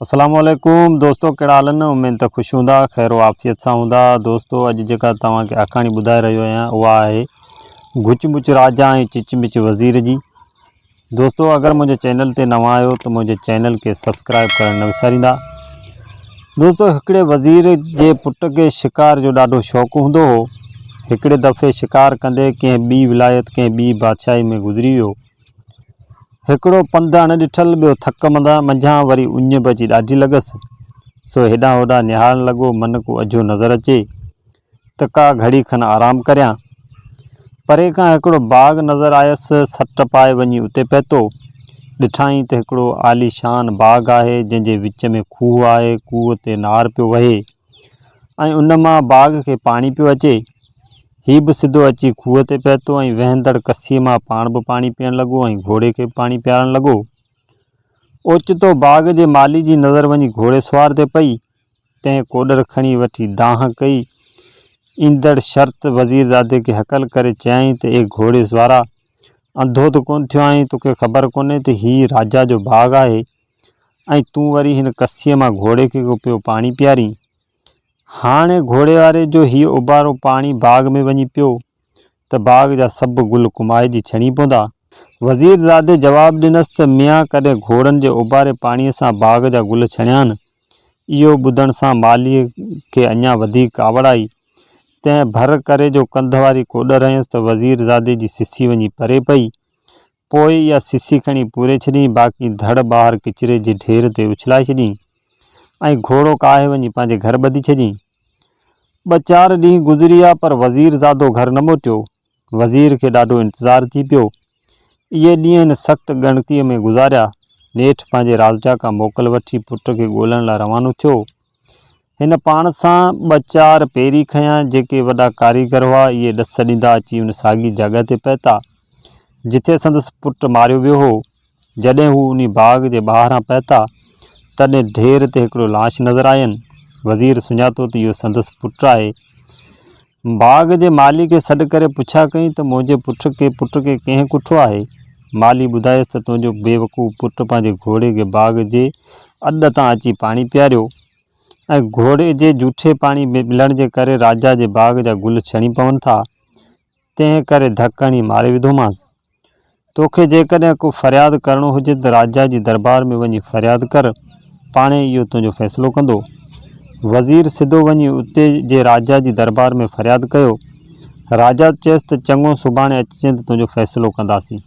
السلام عليڪم دوستو ڪهڙا حال آهن اميد ته خوش هوندا خير و عافيت سان هوندا دوستو اڄ جيڪا توهان کي آکاڻي ٻڌائي رهيو آهيان اها آهي گچ مچ راجا ۽ چچ مچ وزير جي دوستو اگر منهنجي چينل تي نوان آهيو ته منهنجي چينل کي سبسڪرائب ڪرڻ نه وساريندا دوستو هڪڙي وزير جي پٽ کي شڪار جو ڏاڍو شوق هوندو هو هڪڙي دفعي شڪار ڪندي ڪنهن ٻي ولايت ڪنهن ٻي بادشاهي ۾ گذري ويو هڪڙو پنڌ اڻ ڏٺل ٻيو ٿڪ منڌان منجهان وري اڃ به اچي ڏاڍي لڳس، سو هيڏانهن هوڏانهن نهارڻ لڳو من ڪو اجهو نظر اچي ته ڪا گهڙي کن آرام ڪريان. پري کان هڪڙو باغ نظر آيس، سٽ پائي وڃي اتي پهتو، ڏٺائين ته هڪڙو عاليشان باغ آهي، جنهن جي وچ ۾ کوهه آهي، کوهه تي نار پيو وهي. ۽ ان مان باغ کي پاڻي پيو اچي. هي به سڌو اچي کوهه تي پهتو ۽ وهندڙ ڪسيء مان پاڻ به پاڻي پيئڻ لڳو ۽ گهوڙي کي به پاڻي پيارڻ لڳو. اوچتو باغ جي مالي جي نظر وڃي گهوڙي سوار تي پئي، تنهن ڪوڏر کڻي وٺي دانهن ڪئي. ايندڙ شرط وزيرزادي کي هڪل ڪري چيائين ته اي گهوڙي سوارا! انڌو ته ڪونه ٿيو آهين، توکي خبر ڪونهي ته هي راجا جو باغ آهي. ۽ تون وري هن ڪسيء مان گهوڙي کي پيو پاڻي پيارين. هاڻي گهوڙي واري جو هيء اوبارو پاڻي باغ ۾ وڃي پيو ته باغ جا سڀ گل ڪمائجي ڇڻي پوندا. وزير زادي جواب ڏنس ته ميان ڪڏهن گهوڙن جي اوباري پاڻيء سان باغ جا گل ڇڻيان؟ اهو ٻڌڻ سان مالهيء کي اڃا وڌيڪ ڪاوڙ آئي. تنهن ڀر ڪري جو ڪنڌ واري ڪوڏر هنيس ته وزير زادي جي سسي وڃي پري پئي. پوء اها سسي کڻي پوري ڇڏيئين، باقي ڌڙ ٻاهر ڪچري جي ڍير تي اڇلائي ڇڏيئين ۽ گهوڙو ڪاهي وڃي پنهنجي گهر ٻڌي ڇڏيئين. ٻه چار ڏينهن گذريا پر وزير زادو گهر نه موٽيو. وزير کي ڏاڍو انتظار ٿي پيو. اهي ڏينهن هن سخت ڳڻتيء ۾ گذاريا. نيٺ پنهنجي رازجاکان موڪل وٺي پٽ کي ڳولڻ لاء روانو ٿيو. هن پاڻ سان ٻه چار پيري کنيا، جيڪي وڏا ڪاريگر هئا، اهي ڏس ڏيندا اچي ان ساڳي جڳهه تي پهتا، جتي سندس پٽ ماريو ويو هو. جڏهن هو انهي باغ جي ٻاهران پهتا، تڏهن ڍير تي هڪڙو لاش نظر آين. وزير سڃاتو ته اهو سندس پٽ آهي. باغ جي مالي کي سڏ ڪري پڇا ڪيائين ته منهنجي پٽ کي پٽ کي ڪنهن ڪٺو آهي؟ مالي ٻڌايس ته تنهنجو بيوقوف پٽ پنهنجي گهوڙي کي باغ جي اڏ تان اچي پاڻي پياريو ۽ گهوڙي جي جوٺي پاڻي ملڻ جي ڪري راجا جي باغ جا گل ڇڻي پون ٿا، تنهن ڪري ڌڪ هڻي ماري وڌومانس. تو کي جيڪڏهن ڪو فرياد ڪرڻو هجي ته راجا جي دربار ۾ وڃي فرياد ڪر، پاڻهي اهو تنهنجو فيصلو ڪندو. وزير سڌو وڃي اتي جي راجا جي دربار ۾ فرياد ڪيو. راجا چيس ته چڱو سڀاڻي اچجين ته تنهنجو فيصلو ڪنداسين.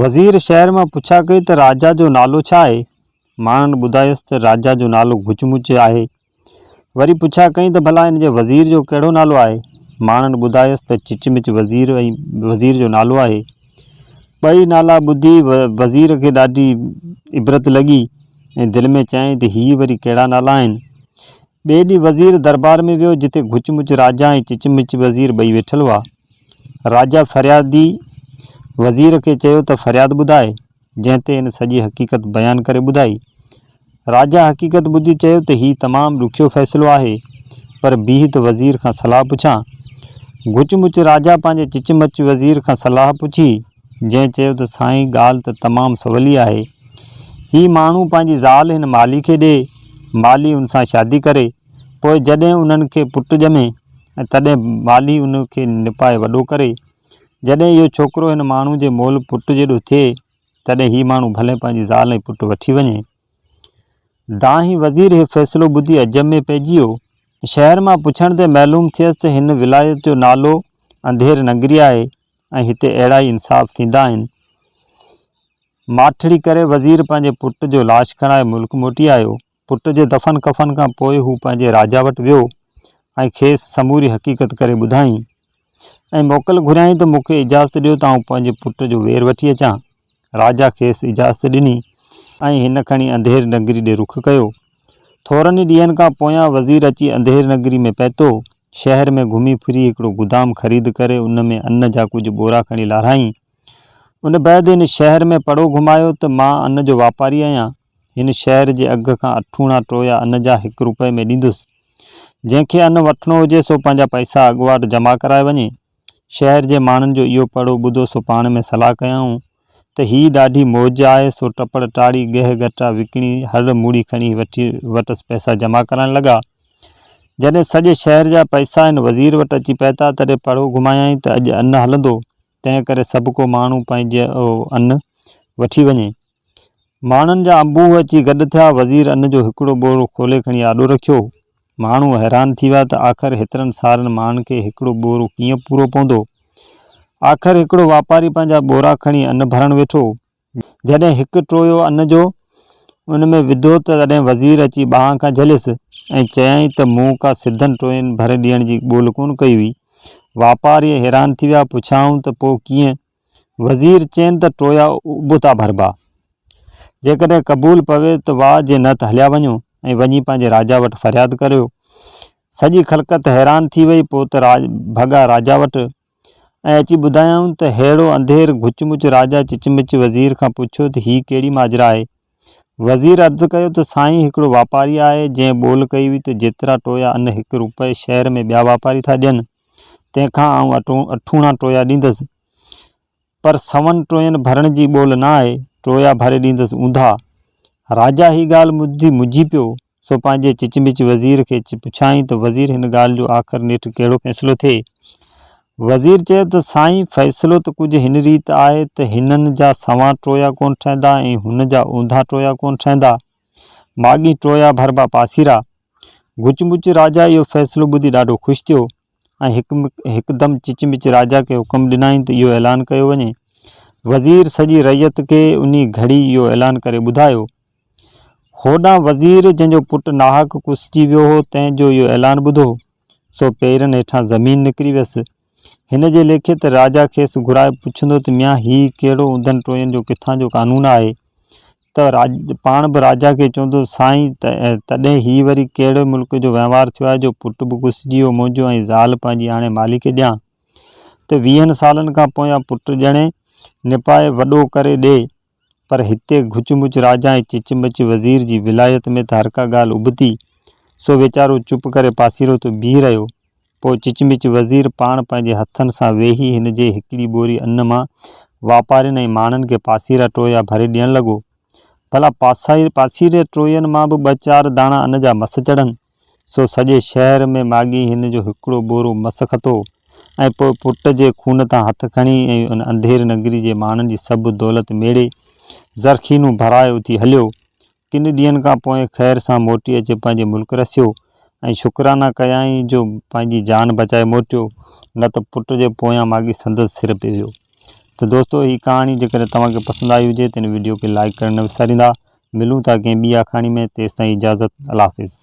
وزير شهر مان پڇا ڪئي ته راجا جو نالو ڇا آهي؟ ماڻهن ٻڌايس ته راجا جو نالو گچ مچ آهي. وري پڇا ڪئين ته ڀلا هن جي وزير جو ڪهڙو نالو آهي؟ ماڻهن ٻڌايس ته چچ مچ وزير ۽ وزير جو نالو آهي. ٻئي نالا ٻڌي وزير کي ڏاڍي عبرت لڳي ۽ دل ۾ چيائين ته هي وري ڪهڙا نالا آهن؟ ٻئي ڏينهن وزير دربار ۾ ويو جتي گچ مچ راجا ۽ چچ مچ وزير ٻئي ويٺل هئا. راجا فريادي وزير کي چيو ته فرياد ٻڌاء. جنهن تي هن سڄي حقيقت بيان ڪري ٻڌائي. راجا حقيقت ٻڌي چيو ته هي تمام ڏکيو فيصلو آهي، پر بيهه ته وزير کان صلاح پڇان. گچ مچ راجا پنهنجي چچ مچ وزير کان صلاح پڇي، جنهن چيو ته سائين ڳالهه ته تمام سولي آهي. هي ماڻهو پنهنجي زال هن مالهي کي ڏئي، مالهي ان سان شادي ڪري، پوء جڏهن انهن کي پٽ ڄمي ۽ تڏهن مالهي ان کي نپائي وڏو ڪري. جڏهن اهو ڇوڪرو هن ماڻهو جي مئل پٽ جيڏو ٿئي، تڏهن هي ماڻهو ڀلي پنهنجي زال ۽ پٽ وٺي وڃي. دانهين وزير اهو فيصلو ٻڌي عجب ۾ پئجي ويو. شهر مان پڇڻ تي معلوم ٿيس ته هن ولايت جو نالو انڌير ننگري آهي ۽ هتي اهڙا ئي انصاف ٿيندا آهن. ماٺڙي ڪري وزير پنهنجي پٽ جو لاش کڻائي ملڪ موٽي آيو. پٽ جي دفن ڪفن کان پوء هو پنهنجي راجا وٽ ويو ۽ کيس سموري حقيقت ڪري ٻڌائين ۽ موڪل گهريائين ته مون کي اجازت ڏيو ته آئون پنهنجي پٽ جو وير وٺي اچان. راجا کيس اجازت ڏني ۽ هن کڻي انڌير نگري ڏي رخ ڪيو. ٿورن ئي ڏينهن کان پويان وزير اچي انڌير نگري ۾ پهتو. شهر ۾ گهمي ڦري هڪڙو گدام خريد ڪري ان ۾ ان جا ڪجهه ٻورا کڻي لارهائين. ان بعد هن شهر ۾ پڙو گهمايو ته مان ان جو واپاري آهيان، هن شهر جي اگهه کان اٺوڻا ٽويا ان جا هڪ روپئي ۾ ڏيندس. جنهن کي ان وٺڻو هجي سو پنهنجا پئسا اڳواٽ جمع ڪرائي وڃي. شهر جي ماڻهن جو اهو پڙو ٻڌو سو پاڻ ۾ صلاح ڪيائون ته هي ڏاڍي موج آهي سو ٽپڙ ٽاڙي گهه گهٽا وڪڻي هڙ موڙي کڻي وٺي وٽس پئسا جمع ڪرائڻ لڳا. جڏهن سڄي شهر جا پئسا هن وزير وٽ اچي پهتا تڏهن پڙو گهمايائين ته اڄ ان هلندو تنهن ڪري سڀ ڪو ماڻهو پنهنجو ان وٺي وڃي. ماڻهن جا انبوهه اچي گڏ ٿيا. وزير ان جو هڪڙو ٻورو کولي کڻي آڏو رکيو. ماڻهو حيران ٿي ويا ته آخر هيترن سارن ماڻهن کي هڪڙو ٻورو ڪيئن پورو پوندو. آخر هڪڙو واپاري پنهنجا ٻورا کڻي ان ڀرڻ ويٺو. جڏهن هڪ ٽويو ان جو ان ۾ وڌو ته تڏهن وزير اچي ٻانهن کان جهليس ۽ چيائين ته مون ڪا سڌن ٽوين ڀر ڏيڻ جي ڳول ڪونه ڪئي هئي. واپاري حيران ٿي ويا، پڇيائون ته پوء ڪيئن؟ وزير چين ته ٽويا ابتا ڀربا. جيڪڏهن قبول پوي ته واهه جي نه ته هليا وڃو ۽ وڃي پنهنجي راجا وٽ فرياد ڪريو. سڄي خلقت حيران ٿي وئي، پوء ته ڀڳا راجا وٽ ۽ اچي ٻڌايائون ته ههڙو انڌير گهچ مچ راجا چچمچ وزير کان پڇيو ته هي ڪهڙي ماجرا آهي؟ وزير عرض ڪيو ته سائين هڪڙو واپاري آهي جنهن ٻول ڪئي هئي ته جيترا ٽويا ان هڪ روپئي شهر ۾ ٻيا واپاري ٿا ڏين تنهن کان آئون اٺوڻا ٽويا ڏيندس پر سون ٽوين ڀرڻ جي ٻول نه آئي، ٽويا ڀري ڏيندس اونڌا. راجا هي ڳالهه ٻڌي مجهي پيو، سو پنهنجي چچمچ وزير کي پڇيائين ته وزير هن ڳالهه جو آخر نيٺ ڪهڙو فيصلو ٿئي؟ وزير چيو ته سائين فيصلو ته ڪجهه هن ريت آهي ته هنن جا سوان ٽويا ڪونه ٺهندا ۽ هن جا اونڌا ٽويا ڪونه ٺهندا. ماڳهين ٽويا ڀربا پاسيرا. گچمچ راجا اهو فيصلو ٻڌي ڏاڍو خوش ٿيو. ۽ هڪدم چچمچ راجا کي حڪم ڏنائين ته اهو اعلان ڪيو وڃي. وزير سڄي رعيت کي انهي گهڙي اهو اعلان ڪري ٻڌايو. هوڏانهن وزير جنهن جو پٽ ناحق ڪوسجي ويو هو تنهن جو اهو اعلان ٻڌو سو پيرن هيٺان زمين نڪري ويس. هن جي ليکي ته راجا کيس گهرائي پڇندو ته ميان هي ڪهڙو اوندهن ٽوين جو ڪٿان جو قانون آهي ته راڄ پاڻ به راجا کي چوندو هو، سائين، تڏهن هي وري ڪهڙي ملڪ جو وهنوار ٿيو آهي جو پٽ به گسجي ويو منهنجو ۽ زال پنهنجي آڻي مالهي کي ڏيان ته ويهن سالن کان پويان پٽ ڄڻي نپائي وڏو ڪري ڏي. پر هتي گهچ مچ راجا ۽ چچ مچ وزير جي ولايت ۾ ته هرڪا ڳالهه ابتي، سو ويچارو چپ ڪري پاسيرو ٿو بيهي رهيو. پوء چچمچ وزير پاڻ پنهنجي هٿن سان ويهي هن جي هڪڙي ٻوري ان مان واپارين ۽ ماڻهن کي پاسيرا ٽويا ڀري ڏيڻ لڳو. ڀلا پاسيري ٽوين مان به ٻه چار داڻا ان جا مس چڙهن. سو سڄي شهر ۾ ماڳهين هن جو هڪڙو ٻورو مس کتو ۽ پوء پٽ جي خون تان هٿ کڻي ۽ ان انڌيري نگري جي ماڻهن جي سڀ دولت ميڙي زرخينون ڀرائي اٿي هليو. ڪن ڏينهن کان پوء خير سان موٽي اچي پنهنجي ملڪ رسيو ۽ شڪرانا ڪيائين جو پنهنجي جان بچائي موٽيو نه ته پٽ جي پويان ماڳي سندس سر پئي ويو. ته دوستو هي ڪهاڻي جيڪڏهن توهان کي پسند آئي هجي ته هن وڊيو کي لائيڪ ڪرڻ نه وساريندا. ملون ٿا ڪنهن ٻي آکاڻي ۾ تيستائين اجازت الله حافظ.